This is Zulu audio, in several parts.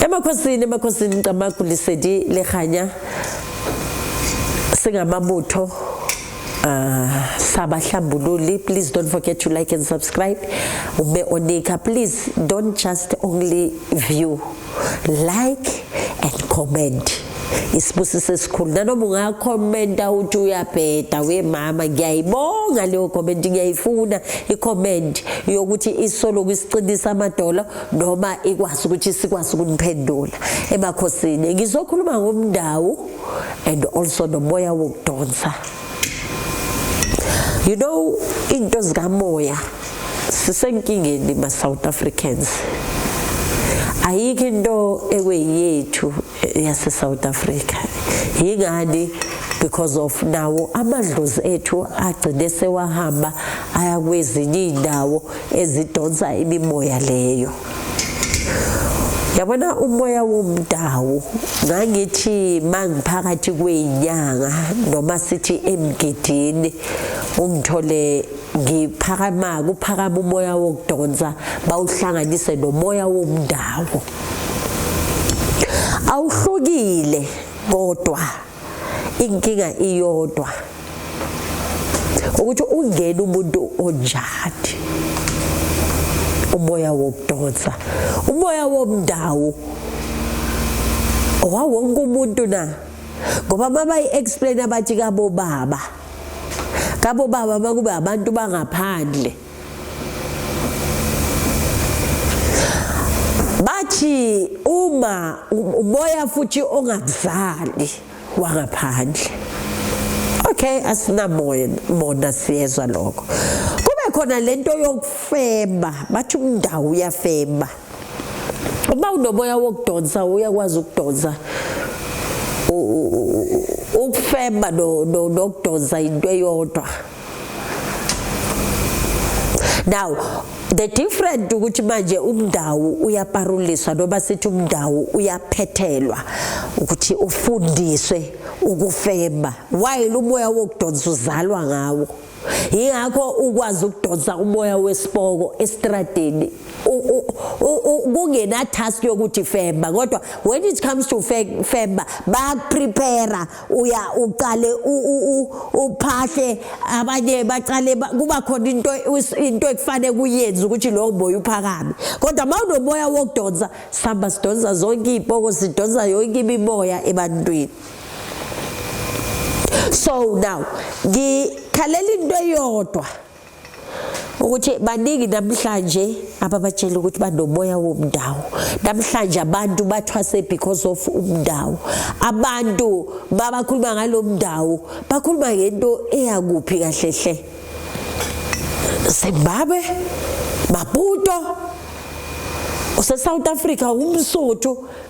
emakhosini emakhosini ncamagu lisedi lehanya singamabutho uh, sabahlambululi please don't forget to like and subscribe ube onika please don't just only view like and comment isibusiso esikhulu nanoma ungakhomenta uthi uyabheda wemama ngiyayibonga leyo comment ngiyayifuna ikhomenti yokuthi isoloku isiqinisa amadolo noma ikwazi ukuthi sikwazi ukuniphendula emakhosini ngizokhuluma ngomndawu and also nomoya wokudonsa you know into zikamoya sisenkingeni ma South Africans ayikho into ekweyethu yase South Africa yingani because of nawo amadlozi ethu agcine sewahamba aya kwezinye indawo ezidonsa imimoya leyo yabona umoya womdawu ngangithi mangiphakathi kwenyanga noma sithi emgidini ungithole ngiphakama kuphakama umoya wokudonsa bawuhlanganise nomoya womndawo awuhlukile kodwa inkinga iyodwa ukuthi ungena umuntu onjani umoya wokudonsa umoya womndawo owawonke umuntu na ngoba mabayi-explain abathi kabobaba kabo baba bakube abantu bangaphandle bathi uma umoya futhi ongakuzali wangaphandle okay asinamoya mona siyezwa lokho kube khona lento yokufeba bathi umndawo uyafeba uba unoboya wokudonsa uyakwazi ukudonsa ukufema nokudonsa into eyodwa now the different ukuthi manje umndawu uyaparuliswa noma sithi umndawu uyaphethelwa ukuthi ufundiswe ukufema while umoya wokudonsa uzalwa ngawo yingakho ukwazi ukudonsa umoya wesipoko estradini kungena task yokuthi femba kodwa when it comes to femba bayakuprepare uya uqale uphahle abanye baqale kuba khona into into ekufanele kuyenze ukuthi lowo moya uphakame kodwa mawunomoya wokudonsa sihamba sidonsa zonke iy'poko sidonsa yonke imimoya ebantwini so now ngikhalela into eyodwa ukuthi baningi namhlanje ababatshela ukuthi banomoya womndawo namhlanje abantu bathwase because of umndawo abantu babakhuluma ngalo mndawo bakhuluma ngento eyakuphi kahle hle Zimbabwe Maputo useSouth Africa umsuthu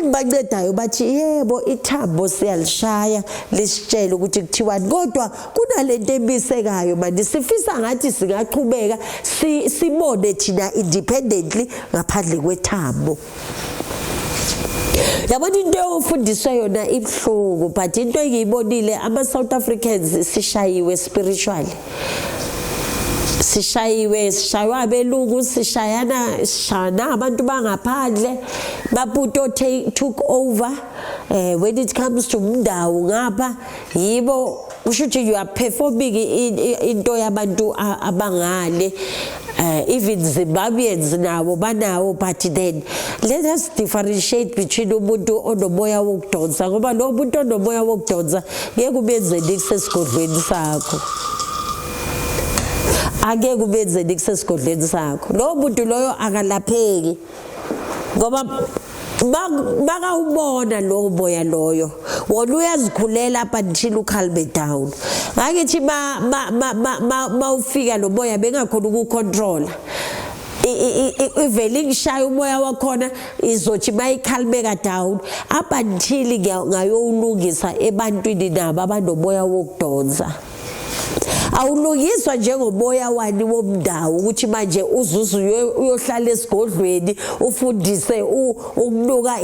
engibancedayo bathi yebo ithambo siyalishaya lisitshele ukuthi kuthiwani kodwa kunalento ebisekayo manje sifisa ngathi singaqhubeka sibone thina independently ngaphandle kwethambo yabona into ofundiswa yona ibuhlungu but into engiyibonile ama-south africans sishayiwe spiritually sishayiwe sishaywa abeluku sishayana sishana abantu bangaphandle baputo take took over eh when it comes to mndawo ngapha yibo kusho ukuthi you are performing into yabantu abangale uh, even Zimbabweans nabo banawo but then let us differentiate between umuntu onomoya wokudonsa ngoba lo muntu onomoya wokudonsa ngeke ubenzeni kusesigodlweni sakho angeke ubenzeni kusesigodlweni sakho lowo muntu loyo akalapheki ngoba bakawubona lowo boya loyo wona uyazikhulela up until ukhalbe down ngakithi bawufika lo boya bengakhona ukucontrola ivele ingishaya umoya wakhona izothi bayikhalibeka down up until ngayowulungisa ebantwini nabo abanomoya wokudonsa awulungiswa njengoboya wani womndawo ukuthi manje uzuze uyohlala esigodlweni ufundise ukunuka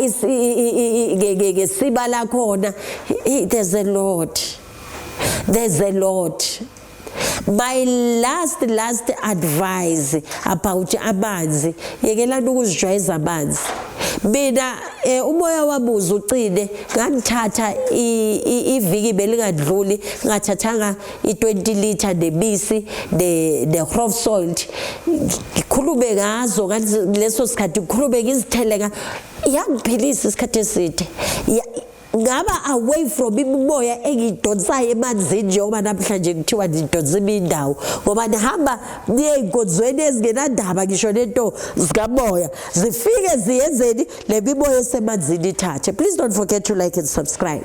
ngesiba lakhona there's a lot there's a lot my last last advice about amanzi yekelani ukuzijwayeza amanzi mina Eh umoya wabuza ucine ngangithatha iviki belingadluli ngathathanga i20 liter nebisi ne ne crop salt ngikhulume ngazo leso sikhathi ngikhulume ngizitheleka yangiphilisa isikhathi eside ngaba away from imimoya engidonsayo emanzini njengoba namhlanje kuthiwa ndidonsa imindawo ngoba ndihamba niye ey'nkonzweni ezingenandaba ngisho nento zikamoya zifike ziyenzeni le mimoya esemanzini ithathe please don't forget to like and subscribe